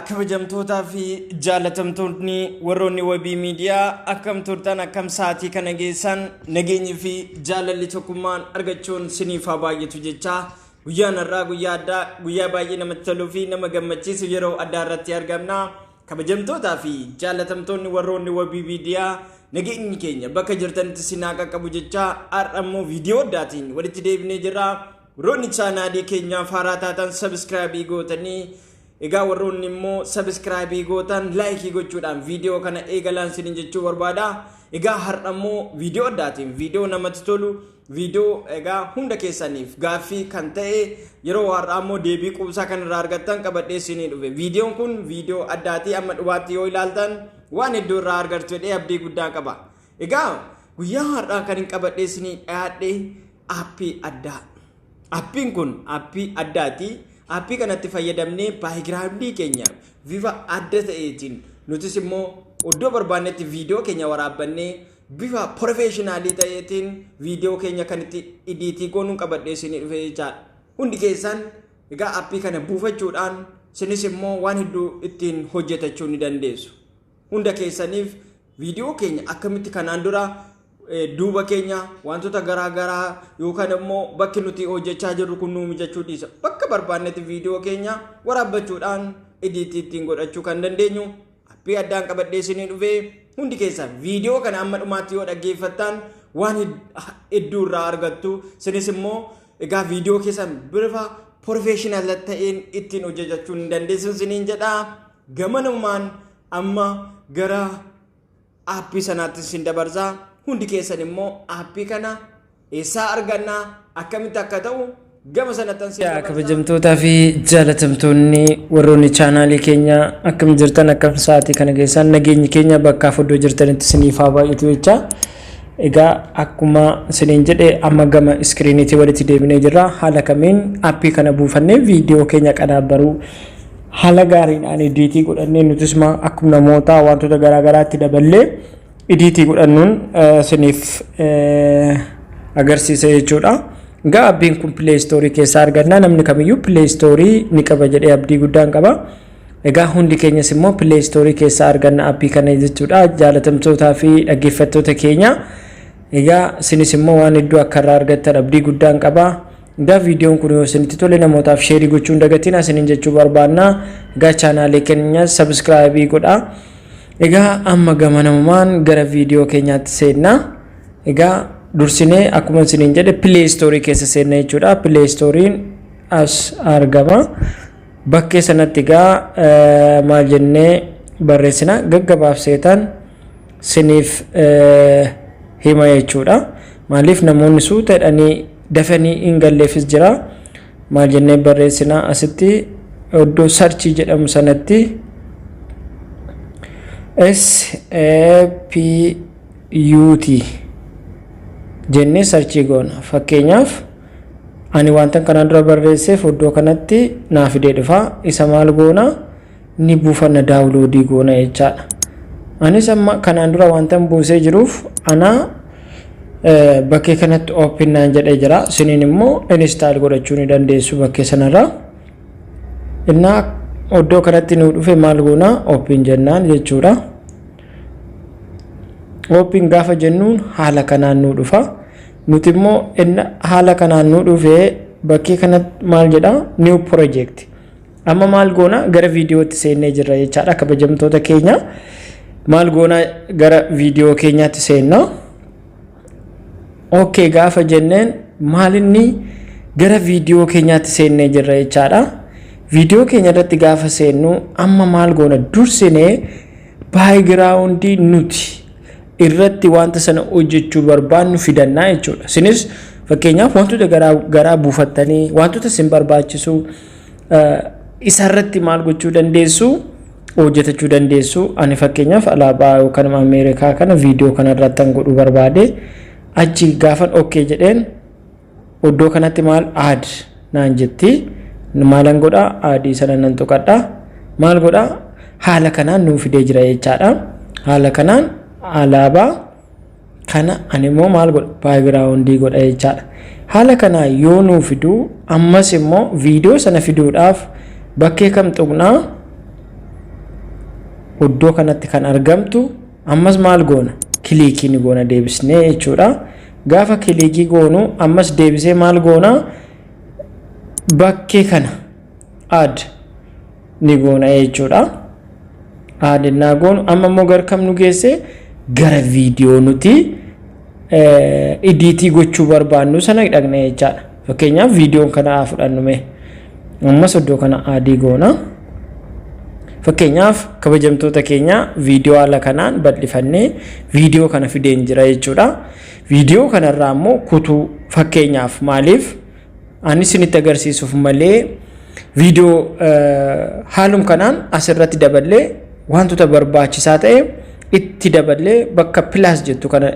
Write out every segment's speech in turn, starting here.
kabajamtootaa fi jaalatamtoonni warroonni wabii miidiyaa akkam turtan akkam sa'aatii kana geessan nageenyi fi jaalalli tokkummaan argachuun siniif haa baay'atu jechaa Guyyaan har'aa guyyaa addaa, guyyaa baay'ee namatti toluu fi nama gammachiisu yeroo addaa irratti argamna. Kabajamtootaa fi jaallatamtoonni warroonni wabii miidiyaa nageenyi keenya bakka jirtanitti isin haa qaqqabu jechaa har'a immoo viidiyoo addaatiin walitti deebinee jirra. Warroonni chaanaalii keenyaaf haaraa taatan sabiskiraabii gootanii Egaa warroonni immoo subscribe gootan like gochuudhaan viidiyoo kana eegalaan isiniin jechuu barbaada. Egaa har'a immoo viidiyoo addaatiin viidiyoo namatti tolu viidiyoo egaa hunda keessaniif gaaffii kan ta'e yeroo har'aa immoo deebii quubsaa kan irraa argattan qabadhee isinii dhufe. Viidiyoon kun viidiyoo addaatii amma dhumaatti yoo ilaaltan waan hedduu irraa argattu jedhee abdii guddaan qaba. Egaa guyyaa har'aa kan hin qabadhee isinii dhiyaadhe aappii addaa. Aappiin kun aappii addaati. Aappii kanatti fayyadamnee baayigiraawundii keenya bifa adda ta'eetiin nutis immoo iddoo barbaannetti viidiyoo keenya waraabbannee bifa porofeeshinaalii ta'eetiin viidiyoo keenya kan itti idiitii goonuun qabadhee isinii dhufee jechaadha. Hundi keessan egaa aappii kana buufachuudhaan isinis immoo waan hedduu ittiin hojjetachuu ni dandeessu. Hunda keessaniif Viidiyoo keenya akkamitti kanaan dura duuba keenya wantoota garaa garaa yookaan immoo bakki nuti hojjechaa jirru kun nuu mijachuu dhiisa. Bakka barbaannetti viidiyoo keenya waraabbachuudhaan idiitii ittiin godhachuu kan dandeenyu appii addaan qabadhee isinii dhufee hundi keessaan viidiyoo kana amma dhumaatti yoo dhaggeeffattaan waan hedduu irraa argattu sinis immoo egaa viidiyoo keessan bifa porofeeshinaala ta'een ittiin hojjechuu ni dandeessu isiniin jedha gamanumaan amma gara aappii sanaatti sin dabarsa hundi keessan immoo aappii kana eessaa arganna akkamitti akka ta'u gama sanattan sin Yaa kabajamtootaa fi jaalatamtoonni warroonni chaanaalii keenya akkam jirtan akkam sa'aatii kana keessaan nageenyi keenya bakka fudhoo jirtanitti isiniif haa baay'atu jecha egaa akkuma isiniin jedhe amma gama iskiriiniitii walitti deebinee jirra haala kamiin aappii kana buufannee viidiyoo keenya qadaabbaruu haala gaariidhaan idiitii godhannee nutis maa akkuma namootaa wantoota garaa garaatti daballee idiitii godhannuun eh, isiniif eh, agarsiisa jechuudha. Egaa abbiin kun Play Store keessaa argannaa namni kamiyyuu Play Store ni qaba jedhee abdii guddaan qaba. Egaa hundi keenyas immoo Play Store keessaa arganna appii kana jechuudha. Jaalatamtootaa fi dhaggeeffattoota keenya. Egaa isinis immoo waan hedduu akka irraa argattan abdii guddaan qaba. Egaa viidiyoon kun yoo isinitti tole namootaaf sheerii gochuu hin dagatinaa isiniin jechuu barbaanna. Egaa chaanaalee keenya sabiskiraayibii godhaa. Egaa amma gama namumaan gara viidiyoo keenyaatti seenna. Egaa dursinee akkuma isiniin jedhe pileestoorii keessa seenna jechuudha. Pileestooriin as argama. Bakkee sanatti egaa eh, maal jennee barreessina gaggabaabseetan siniif eh, hima jechuudha. Maaliif namoonni suuta jedhanii dafanii hin galleefis jira. Maal jennee barreessina asitti iddoo sarchii jedhamu sanatti SAPUT jennee sarchii goona. Fakkeenyaaf ani wantan kanaan dura barreesseef iddoo kanatti naa fidee dhufa. Isa maal goona? ni buufanna daawuloodii goona jechaadha. Anis amma kanaan dura wantan buusee jiruuf anaa bakkee kanatti open naan jedhee jira. Siniin immoo install godhachuu ni dandeessu bakkee sanarraa. Innaa oddoo kanatti nuu dhufe maal goona open jennaan jechuudha. Open gaafa jennuun haala kanaan nuu dhufa. Nuti immoo haala kanaan nuu dhufe bakkee kanatti maal jedha new project. Amma maal goona gara viidiyootti seennee jirra jechaadha kabajamtoota keenya. Maal goona gara viidiyoo keenyaatti seenna. Okkee gaafa jenneen maalinni gara viidiyoo keenyaatti seennee jirra jechaadha. Viidiyoo keenya irratti gaafa seennu amma maal goona dursinee baayigiraawundii nuti irratti wanta sana hojjechuu barbaannu fidannaa jechuudha. Isinis fakkeenyaaf wantoota garaa garaa buufattanii wantoota isin barbaachisu Isarratti maal gochuu dandeessu? hojjetachuu dandeessu. Ani fakkeenyaaf alaabaa yookaan Ameerikaa kana viidiyoo kanarratti kan godhuu barbaade achi gaafan okkee jedheen iddoo kanatti maal aad naan jetti maalan godha aadii sana nan tuqadha maal godha haala kanaan nuu fidee jira jechaadha. Haala kanaan alaabaa kana ani immoo maal godha baagiraawundii godha jechaadha haala kanaa yoo nuu fiduu ammas immoo viidiyoo sana fiduudhaaf bakkee kam tuqnaa iddoo kanatti kan argamtu ammas maal goona kiliikii ni goona deebisnee jechuudha gaafa kiliikii goonu ammas deebisee maal goona bakkee kana add ni goona jechuudha. Aad naa goonu amma immoo gara kam nu geesse gara viidiyoo nuti idiitii gochuu barbaannu sana dhaqna jechaadha. Fakkeenyaaf viidiyoon kana haa fudhannu mee. Ammas iddoo kana aadii goona. Fakkeenyaaf kabajamtoota keenya viidiyoo haala kanaan bal'ifannee viidiyoo kana fideen jira jechuudha. Viidiyoo kanarraa immoo kutuu fakkeenyaaf maaliif Ani isinitti agarsiisuuf malee viidiyoo haalum kanaan asirratti daballee wantoota barbaachisaa ta'e itti daballee bakka pilaas jettu kana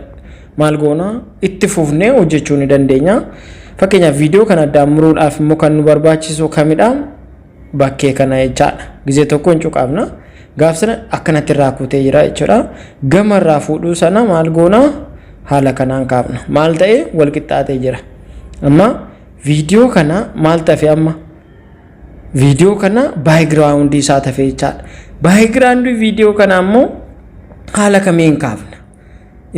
maal goona itti fufnee hojjechuu ni dandeenya. Fakkeenyaaf viidiyoo kana addaan muruudhaaf immoo kan nu barbaachisu kamidha? bakkee kana jechaadha. Gizee tokko hin cuqaafna. Gaaf sana akkanatti irraa kuutee jira jechuudha. Gama irraa fuudhuu sana maal goona haala kanaan kaafna. Maal ta'e wal qixxaatee jira. Amma viidiyoo kana maal tafe amma? Viidiyoo kana baayigiraawundii isaa tafe jechaadha. Baayigiraawundii viidiyoo kana ammoo haala kamiin kaafna?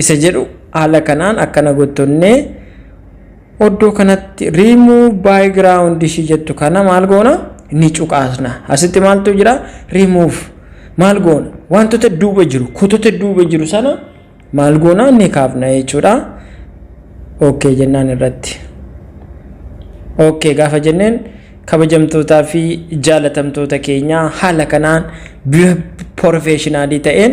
isa jedhu haala kanaan akkana gottonne oddoo kanatti remove background ishii jettu kana maal goona ni cuqaasna asitti maaltu jira remove maal goona wantoota duuba jiru kutota duuba jiru sana maal goona ni kaafna jechuudha ok jennaan irratti ok gaafa jenneen kabajamtootaa fi jaalatamtoota keenyaa haala kanaan bifa porofeeshinaalii ta'een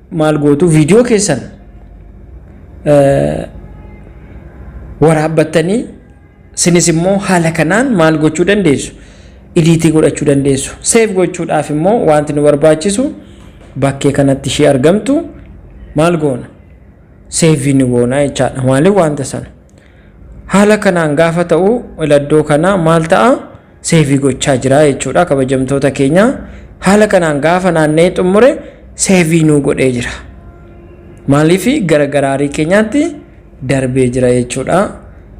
maal gootu viidiyoo keessan eh, waraabbattanii sinis immoo haala kanaan maal gochuu dandeessu idiitii godhachuu dandeessu seef gochuudhaaf immoo wanti nu barbaachisu bakkee kanatti ishee argamtu maal goona seefii ni goona jechaadha maaliif wanta sana haala kanaan gaafa ta'u iladdoo kanaa maal ta'a Seevii gochaa jira jechuudha kabajamtoota keenya. Haala kanaan gaafa naanna'ee xumure seevii nuu godhee jira. Maaliif gara garaarii keenyaatti darbee jira jechuudha.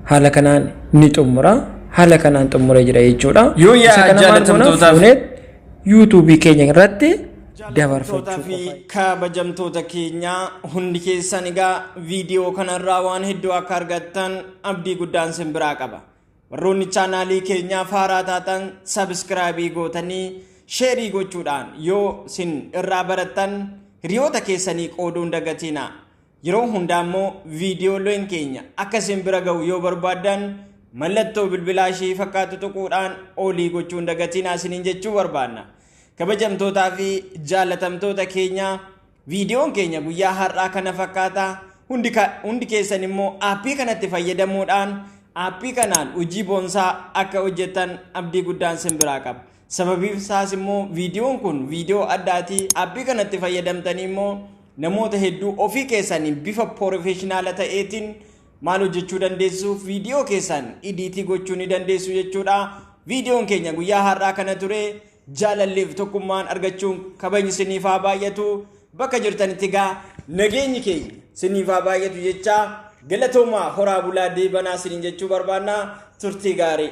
Haala kanaan ni xumura. Haala kanaan xumuree jira jechuudha. Yoo yaa Isa kana maal goona? jaalatamtootaaf- Fuuneet yuutuubii keenya irratti dabarfachuu Jaalatamtootaa qofa. fi kabajamtoota keenyaa hundi keessan egaa viidiyoo kanarraa waan hedduu akka argattan abdii guddaan sin biraa qaba. Warroonni chaanaalii keenyaa faaraa taatan sabiskiraabii gootanii sheerii gochuudhaan yoo sin irraa barattan hiriyoota keessanii qooduun dagatiina. Yeroo hundaa immoo viidiyooleen keenya akka isin bira ga'u yoo barbaaddan mallattoo bilbilaa ishii fakkaatu tuquudhaan olii gochuun dagatiina isiniin jechuu barbaanna. Kabajamtootaa fi jaalatamtoota keenyaa Viidiyoon keenya guyyaa har'aa kana fakkaata. Hundi, ka, hundi keessan immoo aappii kanatti fayyadamuudhaan aappii kanaan hojii boonsaa akka hojjettan abdii guddaan sin biraa qaba. Sababiin isaas immoo viidiyoon kun viidiyoo addaati. Aappii kanatti fayyadamtanii immoo namoota hedduu ofii keessanii bifa porofeeshinaala ta'eetiin maal hojjechuu dandeessu viidiyoo keessan idiitii gochuu ni dandeessu jechuudha. Viidiyoon keenya guyyaa har'aa kana ture. Jaalalliif tokkummaan argachuun kabajni siniif haa baay'atu bakka jirtanitti gaa nageenyi keenya siniif haa baay'atu jechaa galatoomaa horaa bulaa deebanaa siniin jechuu barbaannaa turtii gaarii.